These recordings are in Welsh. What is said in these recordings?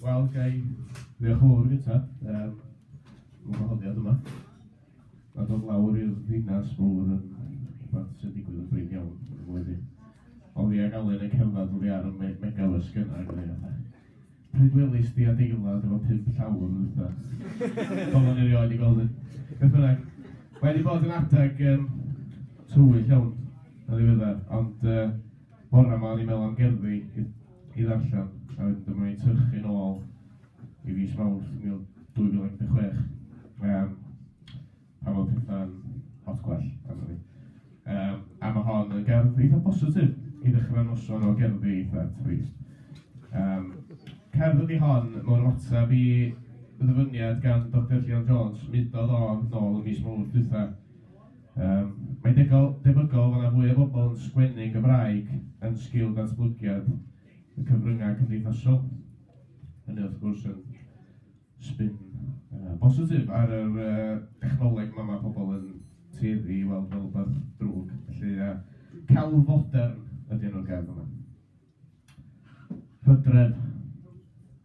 Wel, ga i ddiolch yn fawr i Richard am yr wahoddiad yma. A dod lawr i'r ddinas mawr yn rhywbeth sy'n digwydd yn brin iawn yn y flwyddyn. Ond fi ac Alun yn cerdded oddi ar y me- megabydd sgynna ac oedd e fatha... Pryd welist ti adeilad efo pump llawr yn dwytha? Pobl yn erioed di gweld un. Beth bynnag, mae wedi bod yn adeg um, tywyll iawn yn ddiweddar, ond uh, bore yma o'n i'n meddwl am gerddi i, i ddarllen, a wedyn dyma ni'n tyrchu'n ôl i fis mawrth 2016. Um, pan fo petha'n lot gwell ganddo fi. Um, a mae hon yn gerdd eitha positif i ddechrau noson o gerddi eitha trist. Um, cerdd ydi hon mewn ymateb i ddyfyniad gan Dr Llion Jones, mudodd o nôl y mis mawr dwytha. Um, mae degol, debygol fod yna fwy o bobl yn sgwennu'n Gymraeg yn sgil datblygiad y cyfryngau cymdeithasol. Hynny wrth gwrs yn sbin yy bositif ar yr yy dechnoleg 'ma ma' pobol yn tueddu i weld fel rwbath drwg, felly yy celf fodern ydi enw'r gerdd yma. Hydref,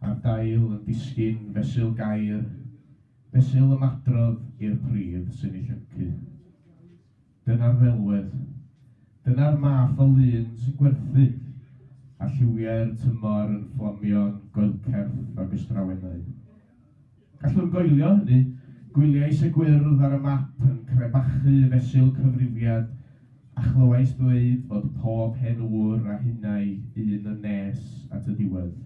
a'r dail yn disgyn fesul gair, fesul ymadrodd i'r pridd sy'n ei llyncu. Dyna'r ddelwedd. Dyna'r math o lun sy'n gwerthu, a lliwiau'r tymor yn fflamio'n goelcerth o gystrawennau. Gallwn goelio hynny, gwyliais y gwyrdd ar y map yn crebachu y fesul cyfrifiad a chlywais ddweud fod pob hen ŵr a hinnau un yn nes at y diwedd.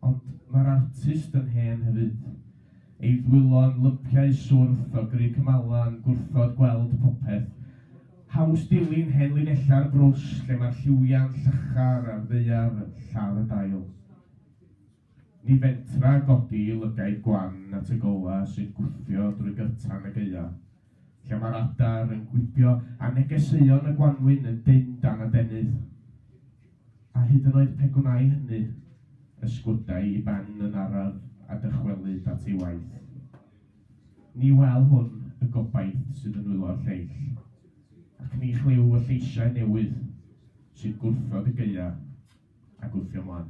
Ond mae'r artist yn hen hefyd. Ei ddwylo'n lypiau swrth o gry cymalau yn gwrthod gweld popeth. Haws dilyn hen linellau'r brwsh lle mae'r lliwiau'n llachar a'r ddaear yn lladd y dail. Ni fentra godi i lygaid gwan at y golau sy'n gwthio drwy gyrtan y gaeaf. Lle mae'r adar yn gwibio a negeseuon y gwanwyn yn dynn dan adenydd. A hyd yn oed pe gwnai hynny, ysgwydai i ben yn araf a dychwelyd at ei waith. Ni wel hwn y gobaith sydd yn nwylo'r lleill, ac ni chlyw y lleisiau newydd sy'n gwrthod y gaeaf a gwthio mlan.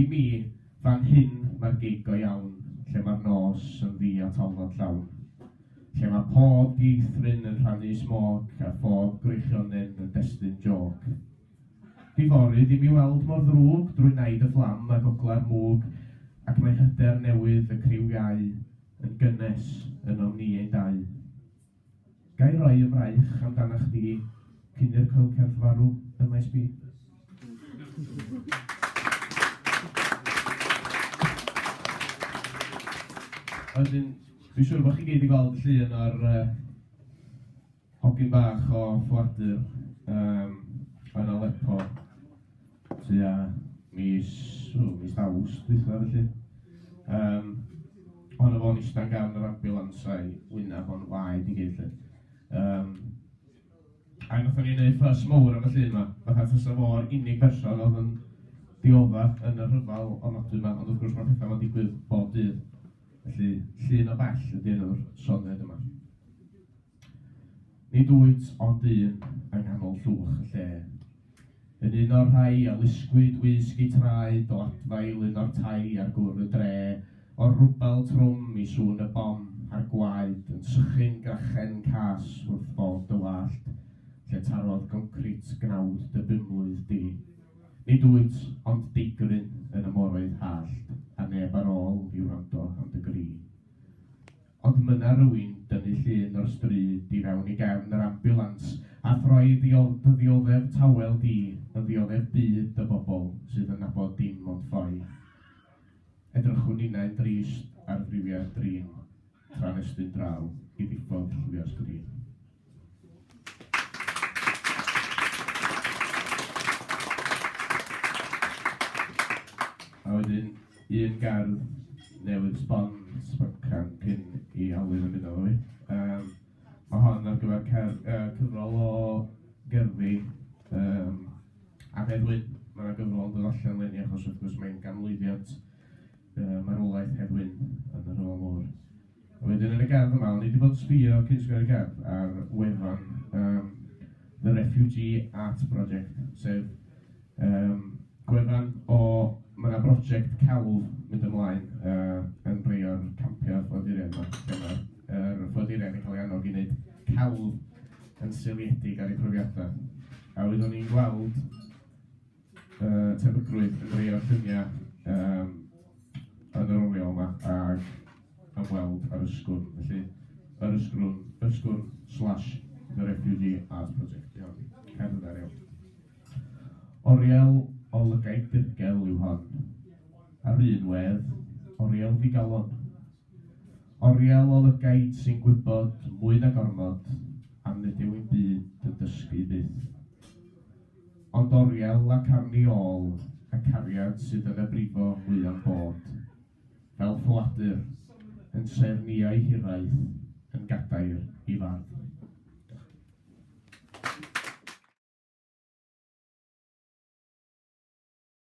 I mi, fan hyn mae'r gig go iawn, lle mae'r nos yn ddu a talnod llawn. Lle mae pob dieithryn yn rhannu smôc a phob gwreichionyn yn destun jôc. Diforydd i mi weld mor ddrwg drwy naid y fflam a gogla'r mwg ac mae hyder newydd y criw iau yn gynnes ynom ni ein dau. Ga i roi y fraich amdanach chdi cyn i'r coelcerth farw ym maes B? A wedyn, dwi'n siŵr bod chi gyd wedi gweld y llun o'r uh, hogyn bach o ffoadur um, yn Aleppo. tua mis, o, mis Awst dwytha felly. Um, Honno fo'n eistedd gan yr ambulansau wynaf o'n waed i gyd. Um, a nath o'n i'n ei ffas mowr am y llun yma, fatha fysa fo'r unig berson oedd yn diodda yn y rhyfel o nodwy yma, ond wrth gwrs mae pethau yma'n digwydd bob dydd. Felly, llun o bell ydy enw'r soned yma. Nid wyt ond dyn yng nghanol llwch y lle. Yn un o'r rhai a lusgwyd wisg eu traed o adfail un o'r tai ar gwr y dre, o'r rwbel trwm i sŵn y bom a'r gwaed yn sychu'n grachen cas wrth fod dy wallt lle tarodd goncrit gnawd dy bumlwydd di. Nid wyt ond deigryn yn y moroedd hallt a neb ar ôl i wrando am dy gri. Ond myna rywun dynnu llun o'r stryd i fewn i gefn yr ambiwlans a throi dy ddioddef tawel di yn ddioddef byd y bobl sydd yn nabod dim ond ffoi. Edrychwn ninnau'n drist ar friwiau'r drin tra'n estyn draw i ddiffodd lliwiau'r sgrin. A wedyn, un gardd newydd sbon, sboncan cyn i Alun ymuno efo fi. Yym, ma' hon ar gyfer cer- yy cyfrol o gerddi yym Annedd Wyn. Ma' 'na gyfrol yn dod allan eleni achos wrth gwrs mae'n ganmlwyddiant yy marwolaeth Hedd Wyn yn y Rhyfel Mawr. Wedyn yn y gardd yma, o'n i 'di bod yn sbïo cyn sgwennu'r gerdd ar wefan yym The Refugee Art Project, sef yym gwefan o... ma' 'na broject celf mynd ymlaen yy yn rhai o'r campiau ffoaduriaid 'ma, lle ma' yr ffoaduriaid yn cael eu annog i wneud celf yn seiliedig ar eu profiadau, a oeddwn i'n gweld yy tebygrwydd yn rei o'r lluniau yym yn yr oriel yma ag am weld ar Ysgwrn, felly yr Ysgrwn, Ysgwrn slash The Refugee Art Project, iawn, cerdd yna, iawn. Oriel o lygaid dirgel yw hon, ar un wedd, oriel ddigalon. Oriel o lygaid sy'n gwybod, mwy na gormod, am nid yw'n byd yn dysgu byth. Ond oriel ac arni ôl y cariad sydd yn y brifo mwya'm bod, fel ffoadur, yn tref niau hiraeth, yn gadair i fardd.